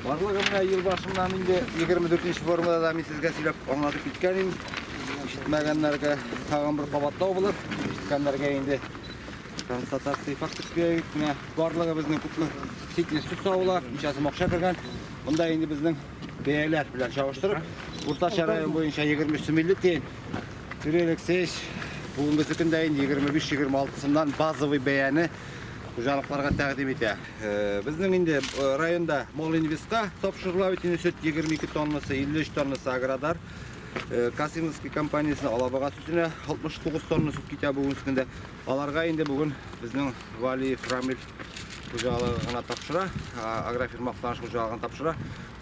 Барлыгы менә ел башыннан инде 24 нче формада да мин сезгә сөйләп аңлатып киткән идем. Ишетмәгәннәргә тагын бер кабатлау булыр. Ишеткәннәргә инде констатация фактик бирәйек. Менә барлыгы безнең күпме ситне сөт савыла, ничәсе мокша кергән. Монда инде безнең бәяләр белән чагыштырып, уртача район буенча 23 сум 50 тиен. Юрий Алексеевич, бүгенге көндә инде 25-26 сумнан базовый бәяне хуҗалыкларга тәкъдим итә. Э, безнең инде э, районда Молинвестка тапшырыла бит инде сөт 22 тоннасы, 53 тоннасы Аградар. Э, Касимовский компаниясенә Алабага сөтенә 69 тонна сөт китә бүген көндә. Аларга инде бүген безнең Валиев Рамил хуҗалыгына тапшыра, агрофирма Актаныш хуҗалыгына тапшыра.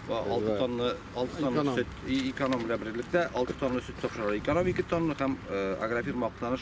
6 тонна 6 тонна сөт эконом белән берлектә 6 тонна сөт тапшыра. Эконом 2 тонна һәм агрофирма Актаныш